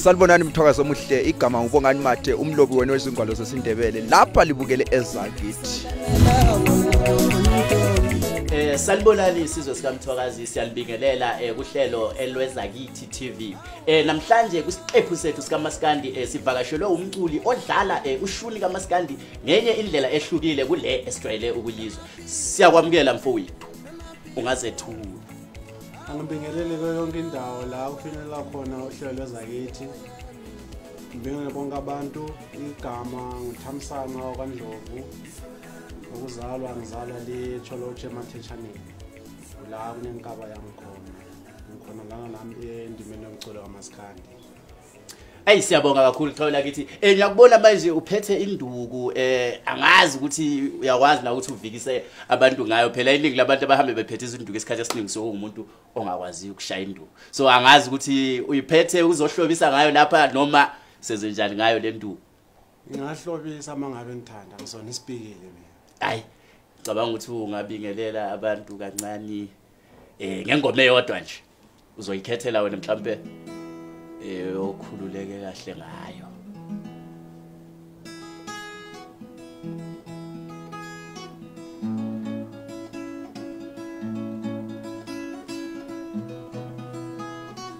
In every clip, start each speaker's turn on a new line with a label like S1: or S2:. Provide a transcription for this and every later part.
S1: Sanibonani mthokazi omuhle igama ngibongani mathe umlobi wena wezingwalo zesindebele lapha libukele ezakithi
S2: Eh salibonani isizwe sikamthokazi siyanibingelela eh kuhlelo elweza kithi TV. Eh namhlanje kusiqephu sethu sikamaskandi eh sivakashelwe umculi odlala eh ushuni kamaskandi ngenye indlela ehlukile kule esijwayele ukuyizwa siyakwamukela mfowethu ungazethula
S3: angibingelele kuyo yonke indawo la kufinyelela khona uhlelo lwezakithi ngibingelele bonke abantu igama nguthamsana kwandlovu ukuzalwa ngizalwa lecholotshe emathetshaneni la kunenkaba yami khona ngikhona lana nami endimeni yomculo kamasikandi
S2: Ayi siyabonga kakhulu Xolo lakithi. Eh ngiyakubona manje uphethe induku eh angazi ukuthi uyakwazi na ukuthi uvikise abantu ngayo phela iningi labantu abahambe bephethe izinduku esikhathi esiningi so ungumuntu ongakwazi ukushaya induku. So angazi ukuthi uyiphethe uzohlobisa ngayo lapha noma sezenjani ngayo le nduku. Ngingahlobisa
S3: mangabe ngithanda ngizona isipikile mina. Ayi
S2: cabanga ukuthi ungabingelela abantu kancane eh ngengoma eyodwa nje uzoyikhethela wena mhlambe eh okhululeke kahle ngayo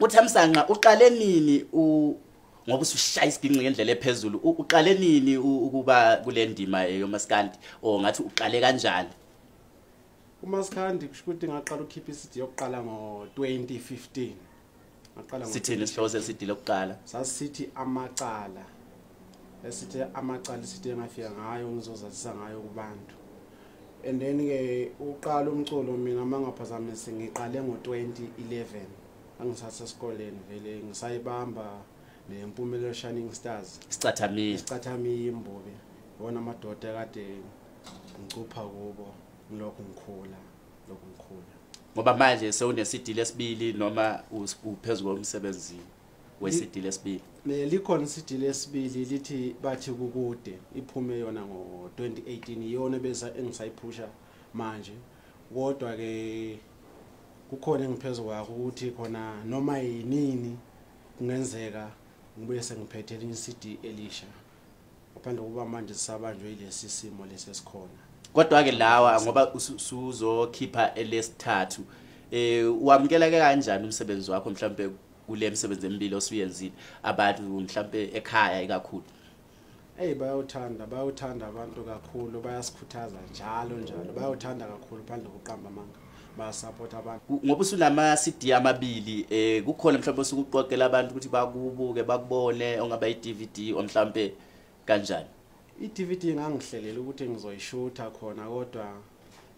S2: uThamsanqa uqale nini u ngoba usushaya isibhinqi ngendlela ephezulu uqale nini ukuba kule ndima yomaskandi or ngathi uqale kanjani
S3: umaskandi kusho ukuthi ngaqala ukhipha isidi yokuqala ngo-2015 ngaqala sithini isihloko
S2: sesidile okuqala sasithi
S3: amacala esithi amacala isithi engafika ngayo ngizozazisa ngayo kubantu and then ke uqala umculo mina mangaphazamisi ngiqale ngo-2011 angisase esikoleni vele ngisayibamba nempumelelo shining stars sicathamiya sicathamiya imbubi wona amadoda kade ngicupha kubo ngilokhu ngikhula lokhu ngikhula
S2: ngoba manje sewunesidile esibili noma uphezulu komsebenzini wesidili esibili ne likhona isidili
S3: esibili lithi bathi kukude iphume yona ngo 2018 iyona beza engisayiphusha manje kodwa ke kukhona engiphezulu kwakho ukuthi khona noma yinini kungenzeka ngibuye sengiphethe elinye iCD elisha ngaphandle kokuba manje sisabanjwe yilesi simo lesi esikhona kodwa-ke lawa
S2: ngoba usuzokhipha elesithathu um wamukela-ke kanjani umsebenzi wakho mhlawumpe kule misebenzi emibili osuyenzile abantu mhlawumpe ekhaya ikakhulu eyi
S3: bayawuthanda bayawuthanda abantu kakhulu bayasikhuthaza njalo njalo bayawuthanda kakhulu phandle kokuqamba amanga bayasaphotha abantu ngoba usunama CD
S2: amabili eh kukhona mhlawumbe osukuqoqela abantu ukuthi bakubuke bakubone ongaba iDVD omhlawumbe kanjani iDVD
S3: ngangihlelela ukuthi ngizoyishutha khona kodwa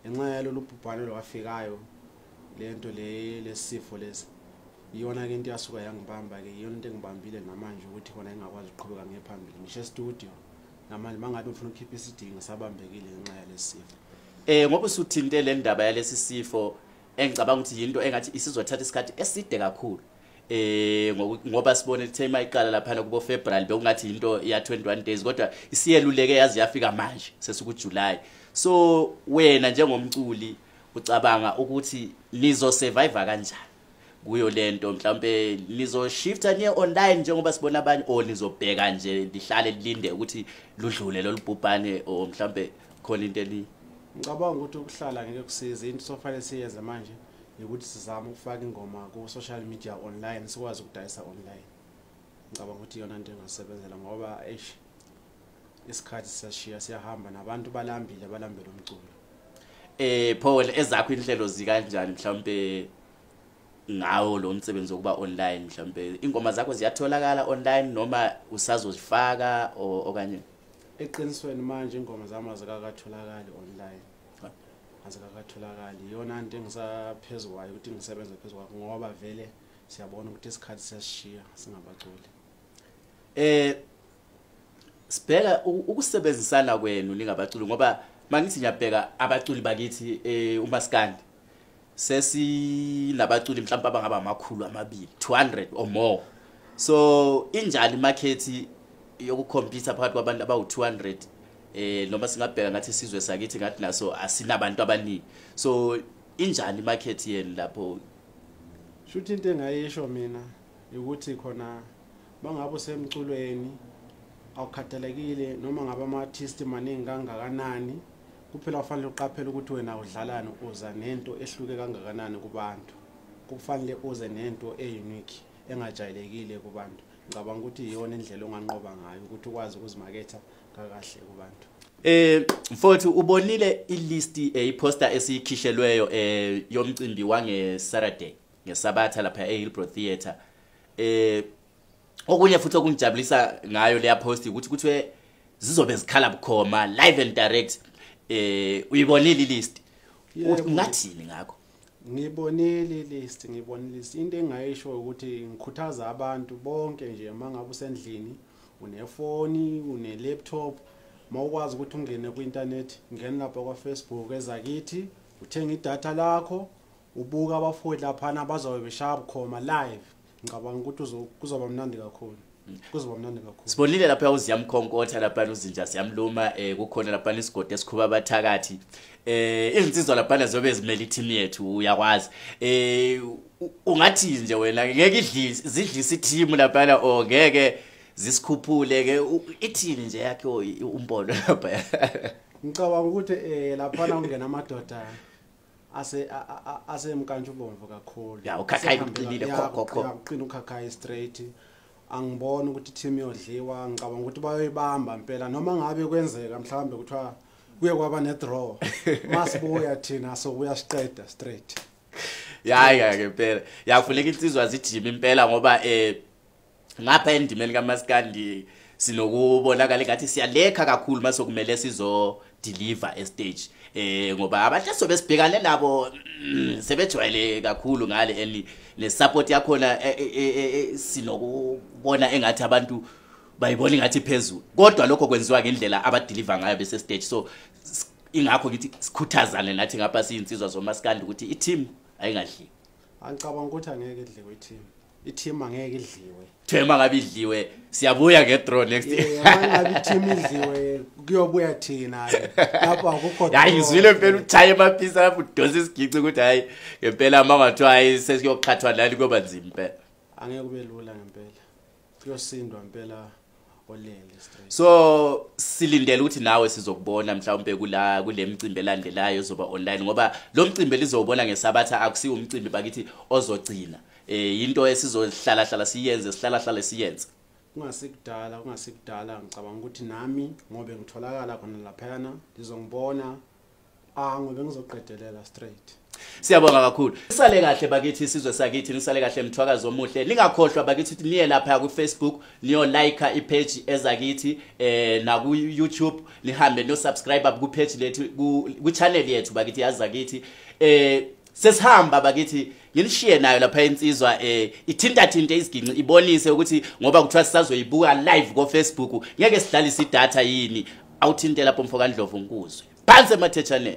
S3: ngenxa yalolu bhubhane lwafikayo lento le lesifo lesi iyona ke into yasuka yangibamba ke iyona into engibambile namanje ukuthi khona engakwazi ukuqhubeka ngephambili ngisho e-studio namanje mangabe ngifuna ukukhipha isidingo sabambekile ngenxa yalesifo Eh ngoba
S2: usuthinte le ndaba yalesi sifo engicabanga ukuthi yinto engathi isizothatha isikhathi eside kakhulu eh ngoba sibone ukuthi ema iqala lapha kubo February bekungathi into ya 21 days kodwa isiyeluleke yazi yafika manje sesuku July so wena njengomculi ucabanga ukuthi nizo survive kanjani kuyo lento mhlambe lizoshifta niye online njengoba sibona abanye or nizobheka nje lihlale lilinde ukuthi ludlule lolubhubhane or mhlambe khona into eli ngicabanga ukuthi
S3: ukuhlala ngeke kusize into sofanele siyenze manje ukuthi sizame ukufaka ingoma ku social media online sikwazi ukudayisa online ngicabanga ukuthi iyona into engasebenzela ngoba eish isikhathi siyashiya siyahamba nabantu balambile balambele umculo
S2: eh Paul ezakho inhlelo
S3: zikanjani
S2: mhlawumbe ngawo lo msebenzi wokuba online mhlawumbe ingoma zakho ziyatholakala online noma usazozifaka okanye eqinisweni
S3: manje ingoma zami azikakatholakali online azikakatholakali iyona nto engisaphezulu kwayo ukuthi ngisebenze phezulu kwakho ngoba vele siyabona ukuthi isikhathi siyasishiya singabaculi eh
S2: sibheka ukusebenzisana kwenu lingabaculi ngoba mangithi ngiyabheka abaculi bakithi eh, umaskandi sesinabaculi mhlawumbe abangaba amakhulu amabili 200 or more so injani imakhethi yokukhompyutha phakathi kwabantu abawu-200 eh noma singabheka ngathi isizwe sakithi ngathi naso asinabantu abaningi so injani imakhethi yenu lapho shuthi
S3: into engayisho mina ukuthi khona Bangabe usemculweni awukhathalekile noma ngabe ama-artist maningi kangakanani kuphela ufanele uqaphele ukuthi wena udlalani uza nento ehluke kangakanani kubantu kufanele uze nento e-unique engajayelekile kubantu ngicabanga ukuthi iyona indlela onganqoba ngayo ukuthi ukwazi ukuzimaketha kakahle kubantu Eh mfowethu
S2: ubonile ilist eyiposter eh, esiyikhishelweyo eh yomcimbi wange Saturday ngesabatha lapha eHillbrow Theatre eh okunye futhi okungijabulisa ngayo leya post ukuthi kuthiwe zizobe zikhala bukhoma live and direct eh uyibonile ilist ungathini ngakho ngibonile
S3: ilist ngibonile ilist into engayisho ukuthi ngikhuthaza abantu bonke nje mangabe usendlini unefoni unelaptop mawukwazi ukuthi ungene kwi-internet ngene lapha kwa-facebook ezakithi uthenge idatha lakho ubuka abafowethu laphana bazobe beshaya bukhoma live ngicabanga ukuthi kuzoba mnandi kakhulu mm. kuzoba mnandi kakhulu sibonile lapha uziyamkhonkotha
S2: lapha uzinja siyamluma eh kukhona lapha isigodi esikhuba abathakathi eh izinsizwa laphana zobe zimele i-team yethu uyakwazi eh ungathi nje wena ngeke idlise zidlise i-team laphana o ngeke zisikhuphule ke ithini nje yakhe umbono lapha ngicabanga
S3: ukuthi eh laphana ungena amadoda ase asemkantsha ubomvu kakhulu ya ukhakhayi uqinile
S2: khokho uqina ukhakhayi
S3: straight angiboni ukuthi team yodliwa ngicabanga ukuthi bayoyibamba impela noma ngabe kwenzeka mhlawumbe kuthiwa kuye kwaba ne draw masibuya thina so kuyasiqeda straight yayi
S2: ngeke impela yakufuneka insizwa zijime impela ngoba eh ngapha endimeni kamaskandi sinokubonakala ngathi siyalekha kakhulu mase kumele sizo deliver e stage eh ngoba abahle sobe sibhekane nabo mm, sebejwayele kakhulu ngale eli le support yakho na e, e, e, sinokubona engathi abantu bayibona ngathi phezulu kodwa lokho kwenziwa ngendlela abadeliver ngayo bese stage so ingakho ngithi sikhuthazane nathi ngapha siyinsizwa zomaskandi ukuthi i team ayingadli angicabanga
S3: ukuthi angeke idliwe i team ithima ngeke idliwe thema ngabe idliwe
S2: siyabuya ke draw next year ngabe ithima
S3: idliwe kuyobuya thina lapho akukho hayi ngizwile impela
S2: uthaye amaphisa lapho udonsa isigici ukuthi hayi ngempela mama kuthiwa hayi sesiyoqhathwa lali kuyoba nzima impela angeke kube lula
S3: ngempela kuyosindwa impela so
S2: silindele ukuthi nawe sizokubona mhlawumbe kula kule mcimbi elandelayo ozoba online ngoba lo mcimbi elizowubona ngesabatha akusiwo umcimbi bakithi ozogcina eh into esizohlala hlala siyenze sihlala hlala siyenze kungasikudala
S3: kungasikudala ngicabanga ukuthi nami ngobe ngitholakala khona laphayana lizongibona Ah ngobe ngizoqedelela straight. Siyabonga kakhulu.
S2: Sale kahle bakithi isizwe sakithi nisale kahle mthwakazi omuhle. Ningakhohlwa bakithi ukuthi niye lapha ku Facebook niyo like i page ezakithi eh na ku YouTube nihambe no subscribe ku page lethu ku channel yethu bakithi yazakithi eh sesihamba bakithi ngilishiye nayo lapha insizwa eh ithinta thinte isiginci ibonise ukuthi ngoba kuthiwa sisazoyibuka live ko Facebook ngeke sidlale isidata yini awuthinte lapho mfo kaNdlovu ngikuzwe phansi emathetshaneni